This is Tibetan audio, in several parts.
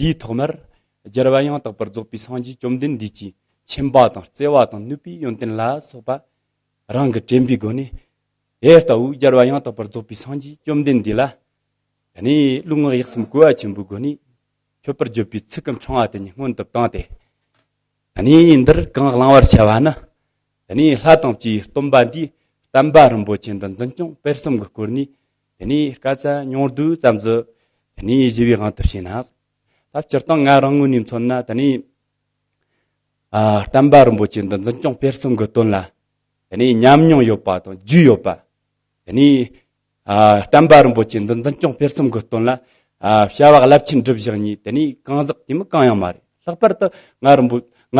དེའི་ཐོག་མར། སྦྱར་བ་ཡང་དག་པར་རྫོགས་པའི་སངས་རྒྱས་བཅོམ་ལྡན་འདས་ཀྱིས་མཁྱེན་པ་དང་བརྩེ་བ་དང་ནུས་པའི་ཡོན་ཏན་ལ་སོགས་པ་རང་གི་དྲན་པའི་སྒོ་ནས། དེ་ལྟ་བུའི་སྦྱར་བ་ཡང་དག་པར་རྫོགས་པའི་སངས་རྒྱས་བཅོམ་ལྡན་འདས་ལ་ནི་རླུད་ངག་ཡིད་གསུམ་གོ་བ་ཆེན་པོའི་སྒོ་ནས་མཆོད་པར་བརྗོད་པའི་ཚིག་གམ་ཆུང་བ་དེ་ཉིད་སྔོན་དུ་བཏང་སྟེ། འདིར་གང་བླང་བར་བྱ་བ་ནི། ལྷ་དང་བཅས་པའི་སྟོན་པ་འདིས་བསྟན་པ་རིན་པོ་ཆེ་འདི་འཛིན་སྐྱོང་སྤེལ་གསུམ་གྱི་སྐོར་ནས་དེ་ནས་སྐད་ཆ་ཉུང་དུས་ཙམ་བཟོས། དེ་ནས་བཞི་བའི་དབང་དུ་བྱས་ན། ད་སྤྱིར་བཏང་ང་རང་ངོས་ནས་མཚོན་ན་དེ་ནས། བསྟན་པ་རིན་པོ་ཆེ་འདི་འཛིན་སྐྱོང་སྤེལ་གསུམ་གྱི་དོན་ལ། དེ་ནས་ཉམས་མྱོང་ཡོད་པ་དང་རྒྱུས་ཡོད་པ། དེ་ནས། བསྟན་པ་རིན་པོ་ཆེ་འདི་འཛིན་སྐྱོང་སྤེལ་གསུམ་གྱི་དོན་ལ། བྱ་བ་རླབས་ཆེན་སྒྲུབ་བཞག་གཉིས་དེ་ནས་གང་ཟག་དེ་མིན་གང་ཡང་མ་རེད་ལྷག་པར་དུ་ང་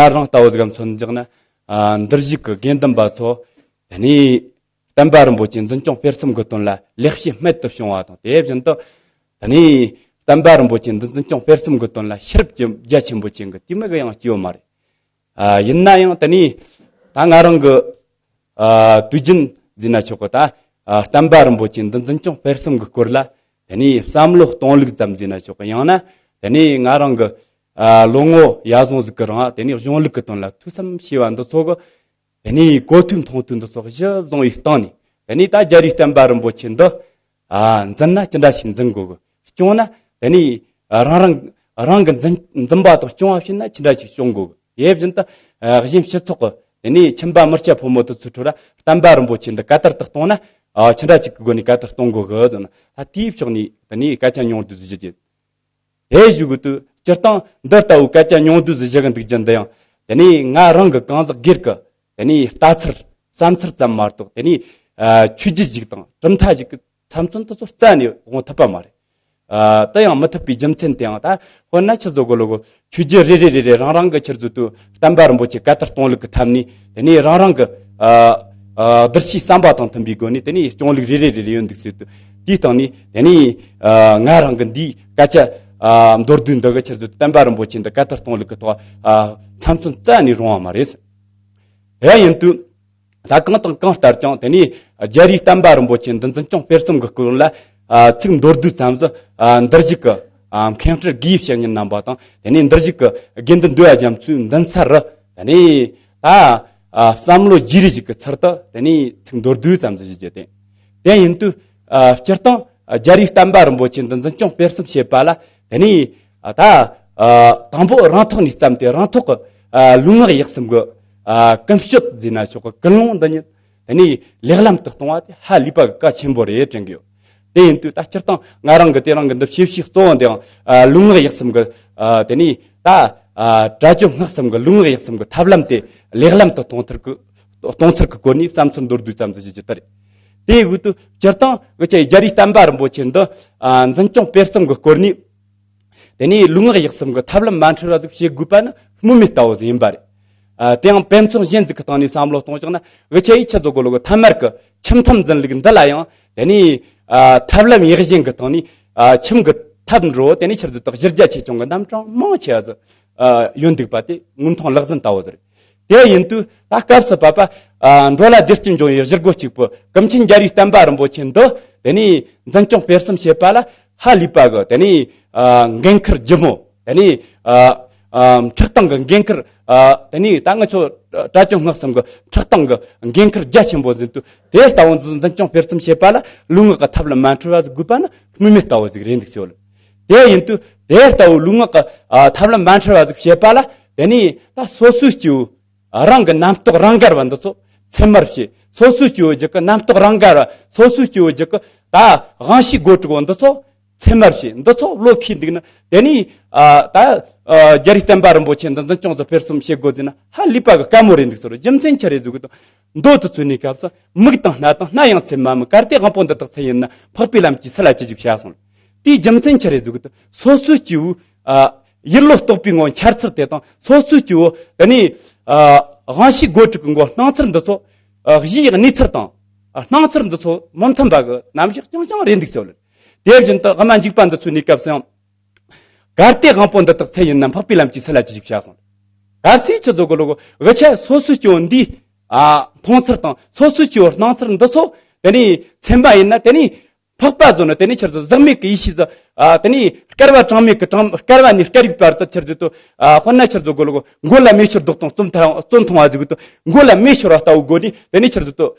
རང་ལྟ་བུ་ཟིག་གམ་མཚོན་བཞག་ན། འདིར་གཞུག་གི་དགེ་འདུན་པ་ཚོ། དེ་ནས། བསྟན་པ་རིན་པོ་ཆེ་འཛིན་སྐྱོང་སྤེལ་གསུམ་གྱི་དོན་ལ་ལེགས་སྐྱེས་རྨད་དུ་བྱུང་བ་དང་དེ་བཞིན་དུ། ད་ནི་བསྟན་པ་རིན་པོ་ཆེ་འཛིན་སྐྱོང་སྤེལ་གསུམ་གྱི་དོན་ལ་ཤེས་རབ་ཀྱི་རྒྱ་ཆེན་པོ་ཅན་གྱི་དུས་མིག་ཡང་སྐྱེས་ཡོད་མ་རེད། ཡིན་ན་ཡང་ད་ནི་ད་ང་རང་གི་དུས་རྒྱུན་བཟོས་ན་ཆོག་གི་ད་བསྟན་པ་རིན་པོ་ཆེ་འདི་འཛིན་སྐྱོང་སྤེལ་གསུམ་གྱི་སྐོར་ལ་ད་ནི་བསམ་བློ་གཏོང་ལུགས་ཙམ་བཟོས་ན་ཆོག་གི་ཡང་ན་ད་ནི་ང་རང་གི་ལོ་ངོ་ཡར་སོང་ཟིག་གི་རིང་ད་ནི་གཞུང་ལུགས་ཀྱི་དོན་ལ་ཐུགས་བསམ་བྱས་པ་འདི་ཚོ་གི། དེ་ནས་གོ་ཐོས་མཐོང་ཐོས་འདི་སོགས་གཞི་བཟང་བའི་སྟེང་ནས་དེ་ནས་ད་རྒྱལ་བའི་བསྟན་པ་རིན་པོ་ཆེ་འདི་འཛིན་ན་ཅི་འདྲ་ཞིག་འཛིན་དགོས་སྐྱོང་ན་དེ་ནས་རང་རང་རང་གི་འཛིན་པ་དང་སྐྱོང་བ་བྱེད་ན་ཅི་འདྲ་ཞིག་སྐྱོང་དགོས་དེ་བཞིན་དུ་གཞན་སྤྱི་ཚོགས་ཀྱི་དེ་ནས་ཁྱིམ་པ་མི་སྐྱ་ཕོ་མོ་དུ་ཚོད་ཁྲོད་ལ་བསྟན་པ་རིན་པོ་ཆེ་འདི་ག་དར་དུ་གཏོང་ན་ཅི་འདྲ་ཞིག་གི་སྒོ་ནས་ག་དར་གཏོང་དགོས་ཀྱི་ལ་དེའི་ཕྱོགས་ནས་དེ་ནས་སྐད་ཆ་ཉུང་དུ་བཞི་བརྒྱད། དེ་བཞུགས་དགོས་དུས་སྤྱིར་བཏང་འདི་ལྟ་བུའི་སྐད་ཆ་ཉུང་བསྡུས་སུ་བཞག་འདུག་རྒྱུ་འདི་ཡང་དེ་ནས་ང་རང་གི་གང་ཟག་སྒེར་གྱི་དེ་ནས་ལྟ་ཚུལ་བསམ་ཚུལ་ཙམ་མ་གཏོགས་དེ་ནས་ཆོས་རྒྱུད་ཞིག་དང་གྲུབ་མཐའ་ཞིག་གི་ཚབ་མཚོན་དེ་ཚོ་རྩད་ནས་དབང་ཐུབ་པ་མ་རེད། དེ་ཡང་མི་ཐུབ་པའི་རྒྱུ་མཚན་དེ་ཡང་ད་དཔེར་ན་ཕྱི་ཟོག་གི་ལུགས་ཆོས་རྒྱུད་རེ་རེ་རེ་རེ་རང་རང་གི་ཕྱིར་བཟོས་དུས་བསྟན་པ་རིན་པོ་ཆེ་བཀའ་ལྟར་སྐྱོང་ལུགས་ཀྱི་ཐབས་ནི་དེ་ནས་རང་རང་གི་བསྡུར་གཞིའི་བསམ་པ་དང་མཐུན་པའི་སྒོ་ནས་དེ་ནས་སྐྱོང་ལུགས་རེ་རེ་རེ་རེ་ཡོད་འདུག་ཟེར་དུས་དེའི་སྟེང་ནས་དེ་ནས་ང་རང་གི་འདིའི། སྐད་ཆ། མདོར་བསྡུས་འདི་གི་ཕྱིར་བརྗོད་དུ་བསྟན་པ་རིན་པོ་ཆེ་འདི་སྐད་ལྟར་གཏོང་ལུགས་ཀྱི་ཐོག་ཚམ་ཚོམ་བཙལ་ནས་རུང་བ་མ་རེད། དེ་ཡིན་དུས། ད་གང་དང་གང་ལྟར་ཀྱང་དེ་ནས་རྒྱལ་རིགས་བསྟན་པ་རིན་པོ་ཆེ་འདི་འཛིན་སྐྱོང་སྤེལ་གསུམ་གྱི་སྐོར་ལ། ཚིག་མདོར་བསྡུས་ཙམ་གཟི་འདིར་བཞུགས་ཀྱི་མཁན་སྤྲུལ་དགེ་བཤེས་གཉིས་རྣམ་པ་དང་དེ་ནས་འདིར་བཞུགས་ཀྱི་དགེ་འདུན་འདུས་རྒྱ་མཚོའི་མདུན་སར་རུ། དེ་ནས་ད་བསམ་བློ་རྒྱས་རེ་ཞིག་གི་ཚུལ་དུ་དེ་ནས་ཚིག་མདོར་བསྡུས་ཙམ་གཟི་བཞུགས་རྒྱུ་དེ་ཡིན་དུས། སྤྱིར་བཏང་རྒྱ་རིགས་བསྟན་པ་རིན་པོ་ཆེ་འདི་འཛིན་སྐྱོང་སྤེལ་གསུམ་བྱེད་པ་ལ་དེ་ནས་ད་དང་པོ་རང་ཐོག་ནས་བརྩམས་ཏེ་རང་ཐོག་ལུས་ངག་ཡིད་གསུམ་གྱི་ཀུན་སྤྱོད་འཛིན་ན་ཆོག་སྐུལ་སློང་འདི་ཉིད་དེ་ནས་ལེགས་ལམ་དུ་གཏོང་བ་དེ་ཧ་ལས་པ་གི་བཀའ་ཆེན་པོ་རེད་དྲན་གྱི་ཡོད། དེ་ཡིན་དུས་ད་སྤྱིར་བཏང་ང་རང་གི་དེ་རང་གི་འདི་ཤེས་བྱའི་གཙོ་བོ་འདིའང་ལུས་ངག་ཡིད་གསུམ་གྱི་དེ་ནས་ད་དྲ་སྤྱོད་སྔགས་གསུམ་གྱི་ལུས་ངག་ཡིད་གསུམ་གྱི་ཐབས་ལམ་དེ་ལེགས་ལམ་དུ་གཏོང་ཚུལ་གྱི་སྐོར་ནས་བསམ་ཚུལ་མདོར་བསྡུས་ཙམ་ཞིག་བརྗོད་རྒྱུ་དེ་རེད། དེའི་དབུས་དུ་སྤྱིར་བཏང་གི་ཆེད་རྒྱ་རིགས་བསྟན་པ་རིན་པོ་ཆེ་འདི་འཛིན་སྐྱོང་སྤེལ་གསུམ་གྱི་སྐོར་ནས། དེ་ནས་ལུས་ངག་ཡིད་གསུམ་གྱི་ཐབས་ལམ་མ་འཁྲུལ་བ་ཞིག་བྱེད་དགོས་པ་ནི་སྨོས་མེད་ལྟ་བུ་ཞིག་ཡིན་པ་རེད། དེ་ཡང་དཔེ་མཚོན་གཞན་ཞིག་གི་སྟེང་ནས་བསམ་བློ་གཏོང་ཕྱོགས་ན་ཝི་ཆེ་ཡིས་ཆེད་བཟོ་དགོས་ལུགས་ཐ་མར་གྱི་ཁྱིམ་ཐབས་འཛིན་ལུགས་འདི་ལ་ཡང་དེ་ནས་ཐབས་ལམ་ཡིད་བཞིན་གྱི་སྟེང་ནས་ཁྱིམ་གྱི་ཐབས་འགྲོ་དེ་ནས་ཕྱིར་བཟོ་དག་གཞིར་རྒྱ་ཆེ་ཆུང་གི་རྣམ་གྲངས་མང་ཆེ་བ་སོགས་ཡོད་འདུག་པ་དེ་དངོས་མཐོང་ལག་ཟིན་ལྟ་བུ་རེད། དེ་ཡིན་དུས་ད་སྐབས་སུ་བབ་པ། འགྲོ་ལ་བདེ་སྐྱིད་འབྱུང་བའི་གཞི་རྒོལ་གཅིག་པུ་གངས་ཅན་རྒྱལ་བའི་བསྟན་པ་རིན་པོ་ཆེ་འདི། དེ་ནས་འཛིན་སྐྱོང་སྤེལ་གསུམ་བྱེད་པ་ལ་ཧ་ལས་པ་གི་དེ་ནས་འགན་འཁུར་རྒྱུ་མོད། དེ་ནས་ཁྲག་དང་གི་འགན་འཁུར། དེ་ནས་ད་ང་ཚོ་བཀྲ་ཆོས་སྔགས་གསུམ་གི་ཁྲག་དང་གི་འགན་འཁུར་རྒྱ་ཆེན་པོ་ཟིན་དུས་དེ་ལྟ་བུ་འཛིན་སྐྱོང་སྤེལ་གསུམ་བྱེད་པ་ལ་ལུས་ངག་གི་ཐབས་ལ་མ་འཁྲུལ་བ་ཟིག་དགོས་པ་ནི་སྨོས་མེད་ལྟ་བུ་ཟིག་རེད་འདུག་ཅོལ། དེ་ཡིན་དུས་དེ་ལྟ་བུའི་ལུས་ངག་གི་ཐབས་ལམ་མ་འཁྲུལ་བ་ཟིག་བྱེད་པ་ལ་དེ་ནས་ད་སོ་སོའི་སྐྱེ་བོ་རང་གི་རྣམ་རྟོག་རང་གར་བ་འདི་ཚོ་ཚད་མར་བྱེད་སོ་སོའི་སྐྱེ་བོ་རྒྱུད་ཀྱི་རྣམ་རྟོག་རང་གར་བ་སོ་སོའི་སྐྱེ་བོ་རྒྱུད་ཀྱི་ད་དབང་ཤེས་སྒོ་དྲུག་པོ་འདི་ཚོ་ཚད་མར་བྱེད་འདི་ཚོ་བློས་ཁས་འདུག་ན་དེ་ནས་ད་རྒྱ་རིགས་བསྟན་པ་རིན་པོ་ཆེ་འདི་འཛིན་སྐྱོང་ཚོ་ཕེར་གསུམ་བྱེད་དགོས་ཟེར་ན་ཧ་ལས་པ་ག་ག་མོ་རེད་འདུག་ཟེར་རོ་རྒྱུ་མཚན་ཅི་རེད་ཟེར་དགོས་དང། མདོ་དུ་བཙུད་ནས་སྐབས་སུ་མིག་དང་སྣ་དང་སྣ་ཡང་ཚད་མ་མི་གར་ཏེ་དབང་པོ་འདི་དག་ཚད་ཡིན་ན་འཕགས་པའི་ལམ་གྱིས་ཚད་ལ་ཅི་འཇུག་བྱ་གསུངས། དེའི་རྒྱུ་མཚན་ཕྱི་རེ་གཟུགས་དུ་སོ་སོའི་སྐྱེ་བོའི། ཡིད་བློ་རྟོག་པའི་ངོར་འཆར་ཚུལ་དེ་དང་སོ་སོའི་སྐྱེ་བོ། དེ་ནས། དབང་བྱེད་སྒོ་དྲུག་གི་མགོ་སྣང་ཚུལ་འདི་ཚོ། གཞིའི་གནས་ཚུལ་དང། སྣང་ཚུལ་འདི་ཚོ་མི་མཐུན་པ་གི་རྣམ་གཞག་རྐྱང་རྐྱང་རེད་འདུག་ཟེར། དེ་བཞིན་དུ་སྨྲ་འཇུག་པ་འདི་ཚོའི་གནས་སྐབས་སུ་ཡང། གར་སྟེགས་དབང་པོ་འདི་དག་ཚད་ཡིན་ན་འཕགས་པའི་ལམ་གྱི་ཚད་ལ་ཅི་ཞིག་བྱ་གསུངས། གར་སའི་ཆུ་ཚོད་གོ་ལོ་གོ་ཆ་སོ་སོའི་སྐྱོན་འདིས། མཐོང་ཚུལ་དང་ཚོར་ཚུལ་སྐྱེ་བོའི་སྣང་ཚུལ་འདི་ཚོ་དེ་ནས་མཚན་པ་ཡིན་ན་དེ་ནས་འཕགས་པ་རྫོགས་ནས་དེ་ནས་ཕྱིར་དུ་གཟགས་མེད་ཀྱི་ཡེ་ཤེས་དེ་ནས་སྐལ་བ་གྲངས་མེད་ཀྱི་སྐལ་བ་ནས་སྐལ་རིག་བར་དུ་ཕྱིར་རྫོགས་དུས་དཔེར་ན་ཕྱིར་རྫོགས་གོ་ལོ་གོ་མགོ་ལ་མེ་ཤོར་ལྡོག་དང་རྩོམ་མཐོང་བ་གཟིགས་དགོས་དོན་མགོ་ལ་མེ་ཤོར་བ་ལྟ་བུ་དགོས་ནས་དེ་ནས་ཕྱིར་རྫོགས་དུས་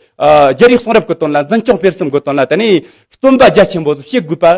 རྒྱལ་རིགས་གསུང་རབ་ཀྱི་དོན་ལ་འཛིན་སྐྱོང་སྤེལ་གསུམ་དགོས་དོན་ལ་དེ་ནས་རྩོམ་པ་རྒྱ་ཆེན་པོ་སོགས་བྱེད་དགོས་པ།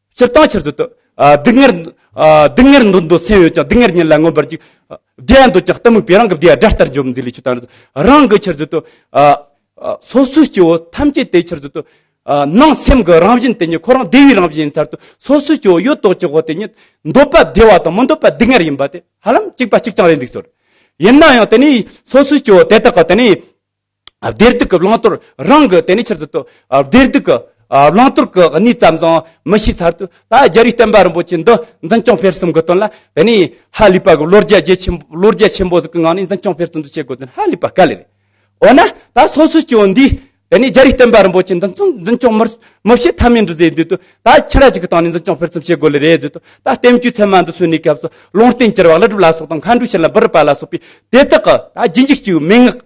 སྤྱིར་བཏང་ཕྱིར་བཟོད་དུ། སྡུག་བསྔལ། སྡུག་བསྔལ་འདོད་འདོད་སེམས་ཡོད་ཀྱང་སྡུག་བསྔལ་ཉིད་ལ་མངོན་པར་འཇུག། བདེ་འདོད་ཀྱང་གཏི་མུག་པས་རང་གི་བདེ་བ་དགྲ་ལྟར་འཇོམས་འཛིན་ལས་ཆོས་དང་རང་གི་ཕྱིར་བཟོད་དུ། སོ་སོའི་སྐྱེ་བོ་ཐམས་ཅད་དེའི་ཕྱིར་བཟོད་དུ། སྣང་སེམས་ཀྱི་རང་བཞིན་དེ་ཉིད་ཁོ་རང་བདེ་བའི་རང་བཞིན་ཡིན་མཚར་ཏོ། སོ་སོའི་སྐྱེ་བོ་ཡོད་དོ་ཅོག་གོ་དེ་ཉིད། འདོད་པ་བདེ་བ་དང་མི་འདོད་པ་སྡུག་བསྔལ་ཡིན་པ་དེ་ཧ་ལམ་གཅིག་པ་གཅིག་རྐྱང་རེད་འདུག་ཟེར། ཡིན་ན་ཡང་དེ་ནི་སོ་སོའི་སྐྱེ་བོ་དེ་དག་གི་དེ་ནི། བདེ་སྡུག་གི་བླང་དོར་རང་གི་དེ་ནས་ཕྱིར་ཟུར་དུ་བདེ་སྡུག་གི་བླང་དོར་གྱི་གནས་ཙམ་ཙམ་མི་ཤེས་ཚར་དུས་ད་རྒྱལ་བའི་བསྟན་པ་རིན་པོ་ཆེ་འདི་འཛིན་སྐྱོང་འཕེར་གསུམ་གྱི་དོན་ལ་དེ་ནས་ཧ་ལས་པ་གི་ལོ་རྒྱ་རྒྱལ་ཆེན་ལོ་རྒྱ་ཆེན་པོ་ཟིག་གི་ངང་ནས་འཛིན་སྐྱོང་འཕེར་གསུམ་དུ་བྱེད་དགོས་དོན་ཧ་ལས་པ་དཀའ་ལས་རེད། འོ་ན་ད་སོ་སོའི་སྐྱེ་བོ་འདིས་དེ་ནས་རྒྱལ་བའི་བསྟན་པ་རིན་པོ་ཆེ་འདི་འཛིན་སྐྱོང་མི་བྱེད་ཐབས་མེད་འདུག་ཟེར་དུས་ད་ཁྱི་ར་ཅིག་གི་སྟེང་ནས་འཛིན་སྐྱོང་འཕེར་གསུམ་བྱེད་དགོས་ལེ་རེད་ཟེར་དུས་ད་བསྟན་བཅོས་ཚད་མ་འདི་སོན་ནས་སྐབས་སུ་ལུང་བསྟན་གྱི་ར་བ་ལི་སྒྲུབ་ལ་སོགས་དང་མཁའ་འགྲོའི་ཕྱིར་ལ་འབུལ་རི་པ་ལ་སོགས་པའི་དེ་དག་གི་ད་རྗེས་འཇུག་ཅིག་མན་ངག་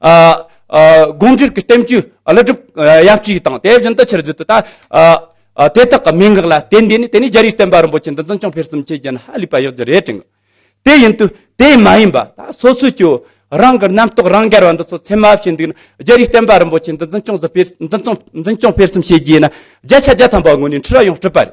དགོངས་འགྲེལ་གྱི་བསྟན་བཅོས་བླ་སྒྲུབ་ཡབ་གཅིག་དང་དེ་བཞིན་དུ་ཕྱིར་བརྗོད་དུ་དང། དེ་དག་གི་མན་ངག་ལ་བརྟེན་ཏེ་ནི་དེ་ནས་རྒྱ་རིའི་བསྟན་པ་རིན་པོ་ཆེ་འདི་འཛིན་སྐྱོང་འཕེལ་གསུམ་བཅས་ཀྱི་ནི་ཧ་ལས་པ་ཡག་རྒྱུ་རེ་དྲན། དེ་ཡིན་དུ་དེ་མ་ཡིན་པ་སོ་སོས་ཀྱི་རང་གི་རྣམ་རྟོག་རང་རྒྱལ་བ་འདི་ཚོ་ཚད་མ་བྱས་འདུག་ན་རྒྱ་རིའི་བསྟན་པ་རིན་པོ་ཆེ་འདི་འཛིན་སྐྱོང་འཕེལ་གསུམ་བཅས་ཀྱི་ནི་བརྒྱ་ཆ་བརྒྱ་ཐམ་པ་ངོས་ནས་འཁྲུལ་བ་ཡང་སྤྲོས་པ་རེད།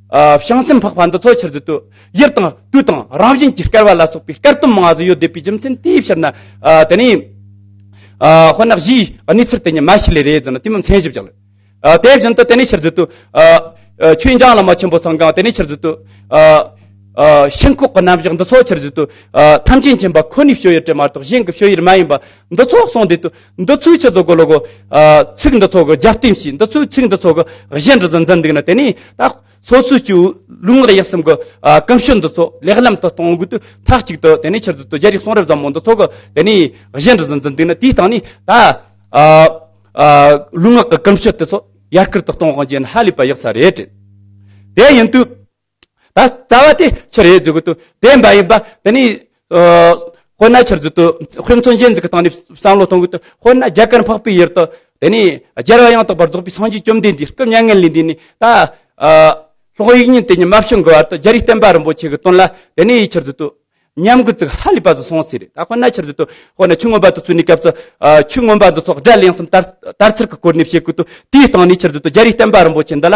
བྱང་སེམས་འཕགས་པ་འདི་ཚོ་ཕྱིར་བརྫུས་དུས་ཡུལ་དང་དུས་དང་རང་བཞིན་གྱིས་སྐལ་བ་ལ་སོགས་པའི་སྐལ་སྟོབས་མང་བ་ཟིན་ཡོད་བསྡད་པའི་རྒྱུ་མཚན་དེའི་ཕྱིར་ན་དེ་ནི་དཔེར་ན་གཞིའི་གནས་ཚུལ་དེ་ཉིད་མ་ཞིག་ལས་རེད་ཟེར་ན་དེ་མི་མཚན་ཞིབ་ཅིག་ལ། དེ་བཞིན་དུ་དེ་ནི་ཕྱིར་བརྫུས་དུས་ཆོས་འབྱུང་བླ་མ་ཆེན་པོ་སངས་གང་དེ་ནི་ཕྱིར་བརྫུས་དུས་ཤིན་ལྐོག་གི་རྣམ་གཞག་འདི་ཚོ་ཕྱིར་བརྫུས་དུས་ཐམས་ཅད་མཁྱེན་པ་ཁོ་ནའི་བྱོས་ཡུལ་དྲི་མ་གཏོགས་གཞན་གྱི་བྱོས་ཡུལ་མ་ཡིན་པ་འདི་ཚོ་གསུངས་བསྡད་དུས་འདི་ཚོའི་ཆེད་དུ་གོ་ལོ་གོ། ཚིག་འདི་ཚོ་གོ་རྒྱབ་རྟེན་བྱས་འདི་ཚོའི་ཚིག་འདི་ཚོ་གོ་གཞན་འདྲི་ཟིན་ཟིན་འདུག་ན་དེ་ནས་ད། སོ་སོའི་ཆུ་བོ་ལུང་ངག་ཡིད་གསུམ་གོ། གོམས་སྲོལ་འདི་ཚོ་ལེགས་ལམ་དུ་གཏོང་དགོས་དུས་མཐའ་གཅིག་ཏུ་དེ་ནས་ཕྱིར་ཚུལ་དུ་རྒྱ་རིགས་གསུང་རབ་ཟབ་མོ་འདི་ཚོ་གོ་དེ་ནས་གཞན་འདྲི་ཟིན་ཟིན་འདུག་ན་དེའི་སྟེང་ནས་ད། ལུང་ངག་གི་གོམས་སྲོལ་དེ་ཚོ་ཡར་སྐུལ་དུ་གཏོང་རྒྱུ་ནི་ཧ་ལས་པ་ཡག་ས་རེད། དེ་ཡིན་དུས། ད་རྩ་བ་དེ་ཕྱིར་ཡོད་རྫུ་གུ་དུ་བདེན་པ་ཡིན་པ་དེ་ནི་དཔེར་ན་ཕྱིར་རྫུ་དུ་དཔེ་མཚོན་གཞན་གྱི་སྟེང་ནས་བསམ་བློ་གཏོང་གི་དུ་དཔེར་ན་རྒྱ་གར་འཕགས་པའི་ཡུལ་དུ་དེ་ནི་རྒྱལ་བ་ཡང་དག་པར་རྫོགས་པའི་སངས་རྒྱས་བཅོམ་ལྡན་འདས་སྐུ་མྱ་ངན་ལས་འདས་ནས་ད་ལྷོག་ཡིག་རྙིང་དེ་ཉིད་མ་བྱུང་གི་བར་དུ་རྒྱ་རི་བསྟན་པ་རིན་པོ་ཆེ་གི་དོན་ལ་དེ་ནི་ཕྱིར་རྫུ་དུ་ཉམས་དགུ་ཚིག་ཧ་ལས་པ་བཟོ་སོང་ཟེར་རེད་ད་དཔེར་ན་ཕྱིར་རྫུ་དུ་དཔེར་ན་ཆུ་སྔོན་པ་དུ་བཙུད་ནས་སྐབས་སུ་ཆུ་སྔོན་པ་འདི་སོགས་སྒྲ་གླེང་སེམས་དར་ཚུར་གི་སྐོར་ནས་བཤད་ཀི་དུ་དེའི་སྟེང་ནས་ཕྱིར་རྫུ་དུ་རྒྱ་རི་བསྟན་པ་རིན་པོ་ཆེ་འདི་ལ་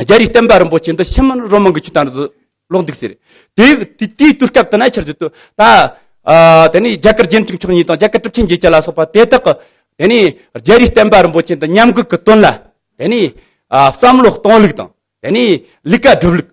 རྒྱ་རིགས་བསྟན་པ་རིན་པོ་ཆེ་འདི་ཕྱི་མར་རོ་མང་གི་ཆུ་དང་རུ་སུ་ལོག་འདུག་ཟེར། དེའི་དུས་སྐབས་དེ་ན་ཆར་ཟིལ་དུ་ད་དེ་ནས་རྒྱ་གར་རྒྱན་དྲུག་མཆོག་གཉིས་དང་རྒྱ་གར་གྲུབ་ཆེན་བརྒྱད་བཅས་ལ་སོགས་པ་དེ་དག་གི་དེ་ནས་རྒྱ་རིགས་བསྟན་པ་རིན་པོ་ཆེ་འདི་ཉམས་གུད་ཀྱི་དོན་ལ་དེ་ནས་བསམ་བློ་གཏོང་ལུགས་དང་དེ་ནས་ལུས་ཀ་སྒྲུབ་ལུགས་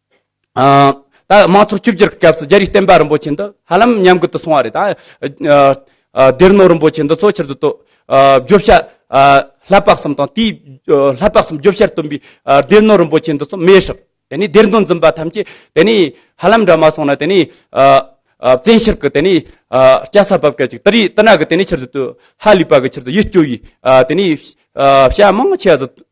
ད་དམངས་ཚོགས་བཅོས་བསྒྱུར་གྱི་སྐབས་སུ་རྒྱ་རིགས་བསྟན་པ་རིན་པོ་ཆེ་འདི་ཧ་ལམ་ཉམས་རྒུད་དུ་སོང་བ་རེད་ད། སྡེར་ནོར་རིན་པོ་ཆེ་འདི་ཚོ་ཕྱིར་བསྡུ་བརྗོད་བྱ་ལྷ་དཔག་གསུམ་དང་དེའི་ལྷ་དཔག་གསུམ་བརྗོད་བྱར་བཏོན་པའི་སྡེར་ནོར་རིན་པོ་ཆེ་འདི་ཚོ་མེད་ཧྲིག་དེ་ནས་སྡེར་མདོ་འཛིན་པ་ཐམས་ཅད་དེ་ནས་ཧ་ལམ་འདྲ་མ་སོང་ན་དེ་ནས་བཙན་ཤེར་གྱི་དེ་ནས་སྐྱ་སར་བབས་སྐད་ཅིག་ཏི་རི་ཏི་ན་གི་དེ་ནས་ཕྱིར་བསྡུ་ཧ་ལས་པ་གི་ཕྱིར་བསྡུ་ཡིད་སྐྱོ་བའི་དེ་ནས་བྱ་མང་ཆེ་བ་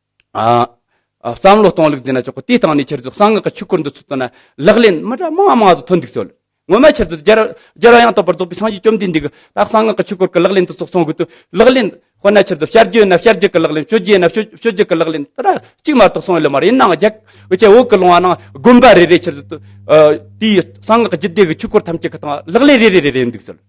བསམ་བློ་གཏོང་ལེགས་མཛད་ན་ཆོག་གོ་དེ་ལྟ་བུ་ནས་ཁྱེད་ཚོས་གསང་སྔགས་ཀྱི་ཆོས་སྐོར་འདི་ཚོ་བཏོན་ན་ལག་ལེན་མི་འདྲ་མང་མང་ཟུག་ཐོན་འདུག་ཚོལ། ངོ་མ་ཁྱེད་ཚོས་རྒྱལ་རབས་ཡང་དག་པར་རྫོགས་པའི་སངས་རྒྱས་བཅོམ་ལྡན་འདས་ཀྱི་ད་གསང་སྔགས་ཀྱི་ཆོས་སྐོར་གྱི་ལག་ལེན་འདི་ཚོ་གསུང་དགོས་དུས་ལག་ལེན་དཔེར་ན་ཁྱེད་ཚོས་ཤར་རྒྱུད་ན་ཤར་རྒྱུད་ཀྱི་ལག་ལེན་ཤོད་རྒྱུད་ན་ཤོད་རྒྱུད་ཀྱི་ལག་ལེན་དེ་འདྲ་གཅིག་མ་གཏོགས་གསུང་ཡོད་ལ་མ་རེད་ཡིན་ནའང་རྒྱ་ཆེ་འོག་གི་ལུང་བ་རྣམས་དགོན་པ་རེ་རེ་ཁྱེད་ཚོས་དེའི་གསང་སྔགས་ཀྱི་རྒྱུད་སྡེ་ཀྱི་ཆོས་སྐོར་ཐམས་ཅད་ཀྱི་སྟེང་ལག་ལེན་རེ་རེ་རེ་རེ་འདུག་ཚོལ།